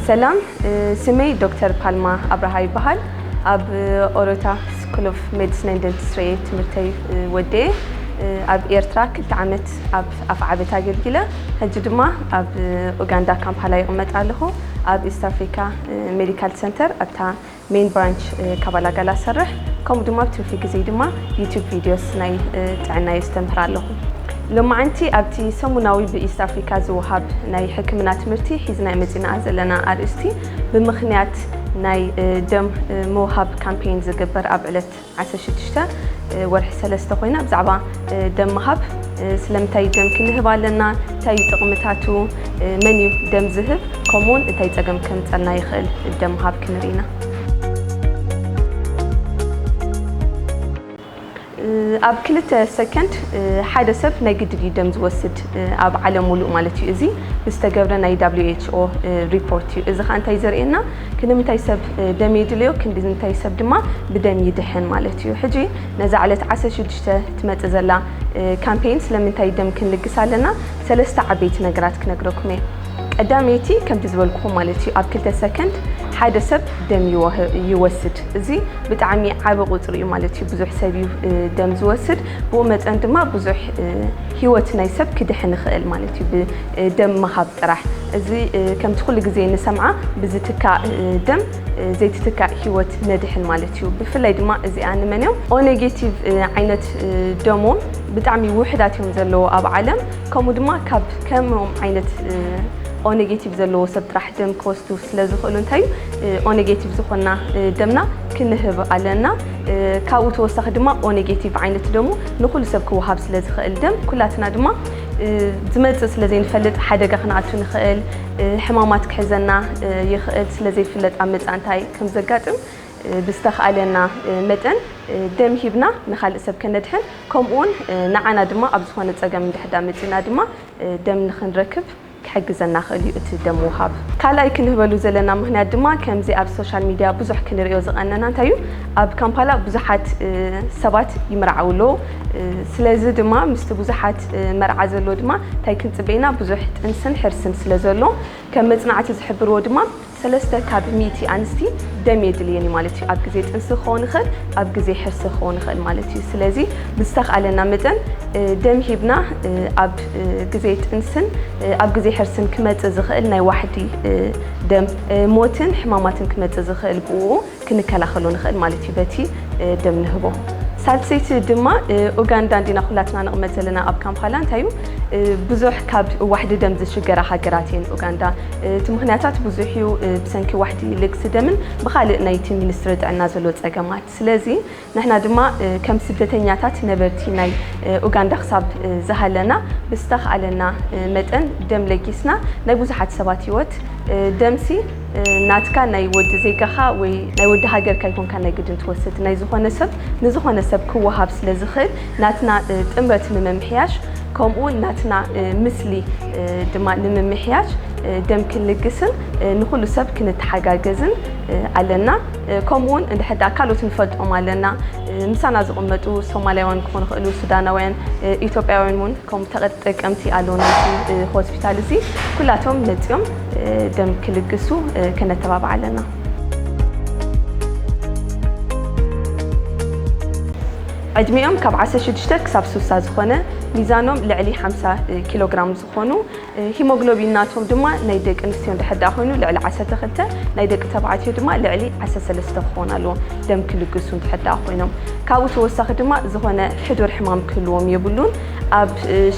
ሰላም ስመይ ዶክተር ፓልማ ኣብርሃ ይበሃል ኣብ ኦሮታ ስኩል ኦፍ ሜዲሲን ን ደንትስትሪ እየ ትምህርተይ ወደየ ኣብ ኤርትራ ክልተ ዓመት ኣብ ኣፍዓበት ኣገልጊለ ሕጂ ድማ ኣብ ኡጋንዳ ካምፓላ ይቕመጥ ኣለኹ ኣብ ኢስት ኣፍሪካ ሜዲካል ሰንተር ኣብታ ሜን ብራንች ካባላጋላ እሰርሕ ከምኡ ድማ ኣብ ትርፊ ግዜይ ድማ ዩቱብ ቪድዮስ ናይ ጥዕና የስተምህር ኣለኹ። ሎማዓንቲ ኣብቲ ሰሙናዊ ብኢስት ኣፍሪካ ዝወሃብ ናይ ሕክምና ትምህርቲ ሒዝናዮ መፂናኣ ዘለና ኣርእስቲ ብምኽንያት ናይ ደም ምውሃብ ካምፔይን ዝግበር ኣብ ዕለት ዓሰርተ ሽዱሽተ ወርሒ ሰለስተ ኮይና ብዛዕባ ደም ምሃብ ስለምንታይ ደምኪ ንህብ ኣለና፣ እንታይ እዩ ጥቕምታቱ፣ መን እዩ ደም ዝህብ ከምኡውን እንታይ ጸገም ከምጸልና ይኽእል ደም ምሃብ ክንርኢ ኢና። ኣብ ክልተ ሰከንድ ሓደ ሰብ ናይ ግድን እዩ ደም ዝወስድ ኣብ ዓለም ሙሉእ ማለት እዩ። እዚ ብዝተገብረ ናይ WHO ሪፖርት እዩ። እዚ ከዓ እንታይ ዘርእየና ክንምታይ ሰብ ደም የድልዮ ክንድንታይ ሰብ ድማ ብደም ይድሕን ማለት እዩ። ሕጂ ነዛ ዕለት ዓሰርተ ሽዱሽተ ትመጽእ ዘላ ካምፔይን ስለምንታይ ደም ክንልግስ ኣለና ሰለስተ ዓበይቲ ነገራት ክነግረኩም እየ። ቀዳመይቲ ከምቲ ዝበልኩኹም ማለት እዩ ኣብ ክልተ ሰከንድ ሓደ ሰብ ደም ይወስድ። እዚ ብጣዕሚ ዓቢ ቁጽሪ እዩ ማለት እዩ። ብዙሕ ሰብ እዩ ደም ዝወስድ ብኡ መጠን ድማ ብዙሕ ህይወት ናይ ሰብ ክድሕን ይኽእል ማለት እዩ። ደም ምሃብ ጥራሕ እዚ ከምቲ ኩሉ ግዜ ንሰምዓ ብዝትካእ ደም ዘይትትካእ ሂወት ነድሕን ማለት እዩ ብፍላይ ድማ እዚኣ ንመን እዮም ኦ ኔጌቲቭ ዓይነት ደሞም ብጣዕሚ ውሕዳት እዮም ዘለዎ ኣብ ዓለም ከምኡ ድማ ካብ ከምኦም ዓይነት ኦ ኔጌቲቭ ዘለዎ ሰብ ጥራሕ ደም ክወስዱ ስለ ዝኽእሉ እንታይ እዩ ኦ ኔጌቲቭ ዝኾና ደምና ክንህብ ኣለና ካብኡ ተወሳኺ ድማ ኦ ኔጌቲቭ ዓይነት ደሙ ንኹሉ ሰብ ክወሃብ ስለ ዝኽእል ደም ኩላትና ድማ ዝመጽእ ስለ ዘይንፈልጥ ሓደጋ ክንኣቱ ንኽእል፣ ሕማማት ክሕዘና ይኽእል፣ ስለ ዘይፍለጥ ኣብ መጻኢ እንታይ ከም ዘጋጥም ብዝተኻእለና መጠን ደም ሂብና ንኻልእ ሰብ ከነድሕን ከምኡውን ንዓና ድማ ኣብ ዝኾነ ጸገም እንድሕዳ መጺእና ድማ ደም ንኽንረክብ ክሕግዘና ክእል እዩ እቲ ደም ምውሃብ። ካልኣይ ክንህበሉ ዘለና ምክንያት ድማ ከምዚ ኣብ ሶሻል ሚድያ ብዙሕ ክንርእዮ ዝቀነና እንታይ እዩ ኣብ ካምፓላ ብዙሓት ሰባት ይምርዓው ኣለው ስለዚ ድማ ምስቲ ብዙሓት መርዓ ዘሎ ድማ እንታይ ክንጽበ ኢና ብዙሕ ጥንስን ሕርስን ስለ ዘሎ ከም መጽናዕቲ ዝሕብርዎ ድማ ሰለስተ ካብ ሚእቲ ኣንስቲ ደም የድልየን እዩ ማለት እዩ። ኣብ ግዜ ጥንሲ ክኸውን ይኽእል፣ ኣብ ግዜ ሕርሲ ክኸውን ይኽእል ማለት እዩ። ስለዚ ብዝተኽኣለና መጠን ደም ሂብና ኣብ ግዜ ጥንስን ኣብ ግዜ ሕርስን ክመጽእ ዝኽእል ናይ ዋሕዲ ደም ሞትን ሕማማትን ክመጽእ ዝኽእል ብኡ ክንከላኸሎ ንኽእል ማለት እዩ በቲ ደም ንህቦ። ሳልሰይቲ ድማ ኡጋንዳ እንዲና ኩላትና ንቕመጥ ዘለና ኣብ ካምፓላ እንታይ እዩ ብዙሕ ካብ ዋሕዲ ደም ዝሽገራ ሃገራት እየን ኡጋንዳ እቲ ምኽንያታት ብዙሕ እዩ ብሰንኪ ዋሕዲ ልግሲ ደምን ብኻልእ ናይቲ ሚኒስትሪ ጥዕና ዘሎ ፀገማት ስለዚ ንሕና ድማ ከም ስደተኛታት ነበርቲ ናይ ኡጋንዳ ክሳብ ዝሃለና ብዝተኽኣለና መጠን ደም ለጊስና ናይ ብዙሓት ሰባት ሂወት ደምሲ ናትካ ናይ ወዲ ዜጋኻ ወይ ናይ ወዲ ሃገርካ ኣይኮንካን ናይ ግድን ትወስድ ናይ ዝኾነ ሰብ ንዝኾነ ሰብ ክወሃብ ስለ ዝኽእል ናትና ጥምረት ንምምሕያሽ ከምኡ ናትና ምስሊ ድማ ንምምሕያሽ ደም ክንልግስን ንኹሉ ሰብ ክንተሓጋገዝን ኣለና። ከምኡ ውን እንድሕር ድኣ ካልኦት ንፈልጦም ኣለና ምሳና ዝቕመጡ ሶማልያውያን ክኾኑ ይኽእሉ፣ ሱዳናውያን፣ ኢትዮጵያውያን ውን ከምኡ ተጠቀምቲ ኣለውና ኣብዚ ሆስፒታል እዚ ኩላቶም መጺኦም ደም ክልግሱ ከነተባብዕ ኣለና። ዕድሚኦም ካብ ዓሰርተ ሽዱሽተ ክሳብ ስሳ ዝኾነ ሚዛኖም ልዕሊ ሓምሳ ኪሎግራም ክኾኑ ሂሞግሎቢን ናቶም ድማ ናይ ደቂ ኣንስትዮ እንድሕር ደኣ ኮይኑ ልዕሊ ዓሰርተ ክልተ ናይ ደቂ ተባዕትዮ ድማ ልዕሊ ዓሰርተ ሰለስተ ክኾን ኣለዎ ደም ክልግሱ እንድሕር ደኣ ኮይኖም ካብኡ ተወሳኺ ድማ ዝኾነ ሕዱር ሕማም ክህልዎም የብሉን ኣብ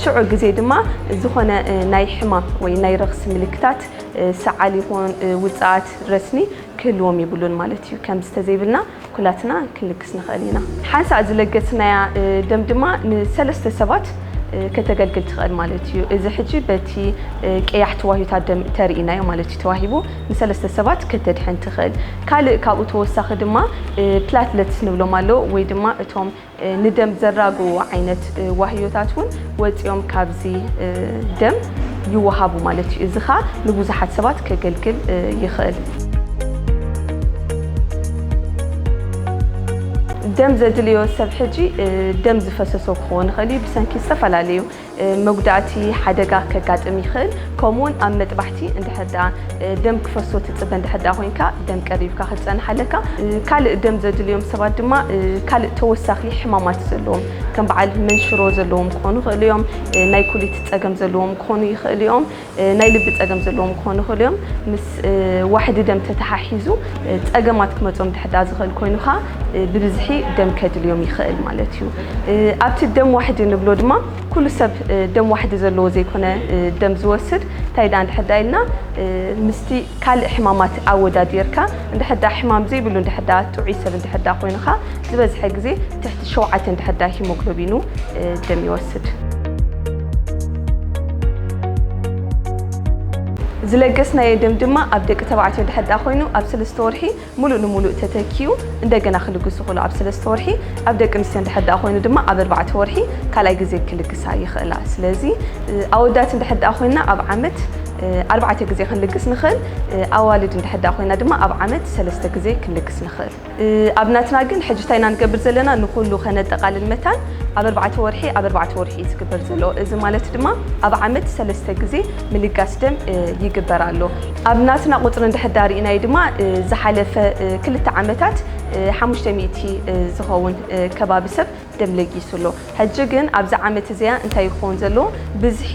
ሽዑ ግዜ ድማ ዝኾነ ናይ ሕማም ወይ ናይ ረኽሲ ምልክታት ሰዓል ይኹን ውጽኣት ረስኒ ክህልዎም የብሉን ማለት እዩ ከም ዝተዘይብልና ኩላትና ክንልግስ ንኽእል ኢና። ሓንሳእ ዝለገስናያ ደም ድማ ንሰለስተ ሰባት ከተገልግል ትኽእል ማለት እዩ። እዚ ሕጂ በቲ ቀያሕቲ ዋህዮታት ደም እተርእይናዮ ማለት እዩ ተዋሂቡ ንሰለስተ ሰባት ከተድሕን ትኽእል። ካልእ ካብኡ ተወሳኺ ድማ ፕላትለትስ ንብሎም ኣለዉ ወይ ድማ እቶም ንደም ዘራግዉ ዓይነት ዋህዮታት እውን ወፂኦም ካብዚ ደም ይወሃቡ ማለት እዩ። እዚ ከዓ ንብዙሓት ሰባት ከገልግል ይኽእል። ደም ዘድልዮ ሰብ ሕጂ ደም ዝፈሰሶ ክኾን ይኽእል እዩ ብሰንኪ ዝተፈላለዩ መጉዳእቲ፣ ሓደጋ ከጋጥም ይኽእል። ከምኡውን ኣብ መጥባሕቲ እንድሕር ደኣ ደም ክፈሶ ትጽበ እንድሕር ደኣ ኮይንካ ደም ቀሪብካ ክትጸንሕ ኣለካ። ካልእ ደም ዘድልዮም ሰባት ድማ ካልእ ተወሳኺ ሕማማት ዘለዎም ከም በዓል መንሽሮ ዘለዎም ክኾኑ ይኽእሉ እዮም። ናይ ኩሊት ጸገም ዘለዎም ክኾኑ ይኽእሉ እዮም። ናይ ልቢ ፀገም ዘለዎም ክኾኑ ይኽእሉ እዮም። ምስ ዋሕዲ ደም ተተሓሒዙ ፀገማት ክመፅኦም እንድሕር ደኣ ዝኽእል ኮይኑ ከዓ ብብዝሒ ደም ከድልዮም ይኽእል ማለት እዩ። ኣብቲ ደም ዋሕዲ ንብሎ ድማ ኩሉ ሰብ ደም ዋሕዲ ዘለዎ ዘይኮነ ደም ዝወስድ እንታይ ደኣ እንድሕር ደኣ ኢልና ምስቲ ካልእ ሕማማት ኣወዳዲርካ እንድሕር ደኣ ሕማም ዘይብሉ እንድሕር ደኣ ጥዑይ ሰብ እንድሕር ደኣ ኮይንኻ ዝበዝሐ ግዜ ትሕቲ ሸውዓተ እንድሕር ደኣ ሂሞግሎቢኑ ደም ይወስድ። ዝለገስናዮ ደም ድማ ኣብ ደቂ ተባዕትዮ እንድሕር ደኣ ኮይኑ ኣብ ሰለስተ ወርሒ ሙሉእ ንሙሉእ ተተኪኡ እንደገና ክልግሱ ክእሉ ኣብ ሰለስተ ወርሒ ኣብ ደቂ ኣንስትዮ እንድሕር ድኣ ኮይኑ ድማ ኣብ ኣርባዕተ ወርሒ ካልኣይ ግዜ ክልግሳ ይኽእላ ስለዚ ኣወዳት እንድሕር ድኣ ኮይና ኣብ ዓመት ኣርባዕተ ግዜ ክንልግስ ንኽእል ኣዋልድ እንድሕር ድኣ ኮይና ድማ ኣብ ዓመት ሰለስተ ግዜ ክንልግስ ንኽእል ኣብ ናትና ግን ሕጂ እንታይ ኢና ንገብር ዘለና ንኹሉ ከነጠቃልል መታን ኣብ ኣርባዕተ ወርሒ ኣብ ኣርባዕተ ወርሒ እዩ ዝግበር ዘሎ እዚ ማለት ድማ ኣብ ዓመት ሰለስተ ግዜ ምልጋስ ደም ይግበር ኣሎ። ኣብ ናትና ቁፅሪ እንድሕር ዳ ሪእናዮ ድማ ዝሓለፈ ክልተ ዓመታት ሓሙሽተ ሚእቲ ዝኸውን ከባቢ ሰብ ደም ለጊሱ ኣሎ። ሕጂ ግን ኣብዛ ዓመት እዚኣ እንታይ እዩ ክኸውን ዘለዎ ብዝሒ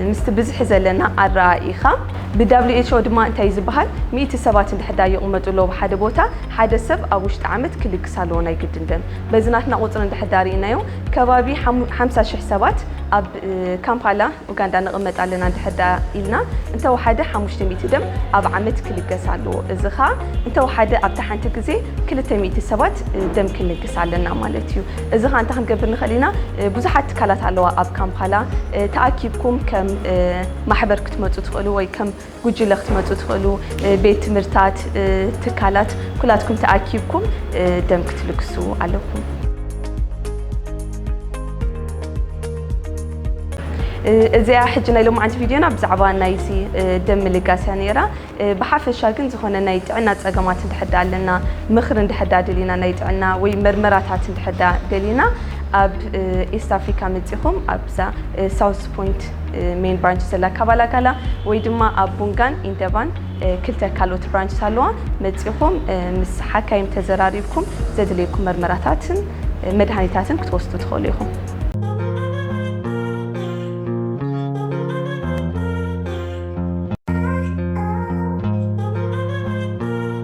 ምስቲ ብዝሒ ዘለና ኣረኣኢኻ ብWHO ድማ እንታይ እዩ ዝበሃል ሚእቲ ሰባት እንድሕር ዳ ይቕመጡ ኣለዉ ኣብ ሓደ ቦታ ሓደ ሰብ ኣብ ውሽጢ ዓመት ክልግስ ኣለዎ ናይ ግድን ደም። በዚ ናትና ቁፅሪ እንድሕር ዳ ሪእናዮ ከባቢ ሓምሳ ሽሕ ሰባት ኣብ ካምፓላ ኡጋንዳ ንቕመጥ ኣለና እንድሕር ደኣ ኢልና፣ እንተ ወሓደ ሓሙሽተ ሚእቲ ደም ኣብ ዓመት ክልገስ ኣለዎ። እዚ ከኣ እንተ ወሓደ ኣብታ ሓንቲ ግዜ ክልተ ሚእቲ ሰባት ደም ክንልግስ ኣለና ማለት እዩ። እዚ ከኣ እንታይ ክንገብር ንኽእል ኢና፣ ብዙሓት ትካላት ኣለዋ ኣብ ካምፓላ፣ ተኣኪብኩም ከም ማሕበር ክትመጹ ትኽእሉ ወይ ከም ጉጅለ ክትመፁ ትኽእሉ ቤት ትምህርታት ትካላት ኩላትኩም ተኣኪብኩም ደም ክትልግሱ ኣለኩም። እዚኣ ሕጂ ናይ ሎማዓንቲ ቪድዮና ብዛዕባ ናይዚ ደም ምልጋስ እያ ነይራ ብሓፈሻ ግን ዝኾነ ናይ ጥዕና ፀገማት እንድሕዳ ኣለና ምኽሪ እንድሕዳ ደሊና ናይ ጥዕና ወይ መርመራታት እንድሕዳ ደሊና ኣብ ኢስት ኣፍሪካ መፂኹም ኣብዛ ሳውስ ፖይንት ሜን ብራንች ዘላ ካባላጋላ ወይ ድማ ኣብ ቡንጋን ኢንደባን ክልተ ካልኦት ብራንች ኣለዋ መፂኹም ምስ ሓካይም ተዘራሪብኩም ዘድልየኩም መርመራታትን መድሃኒታትን ክትወስዱ ትኽእሉ ኢኹም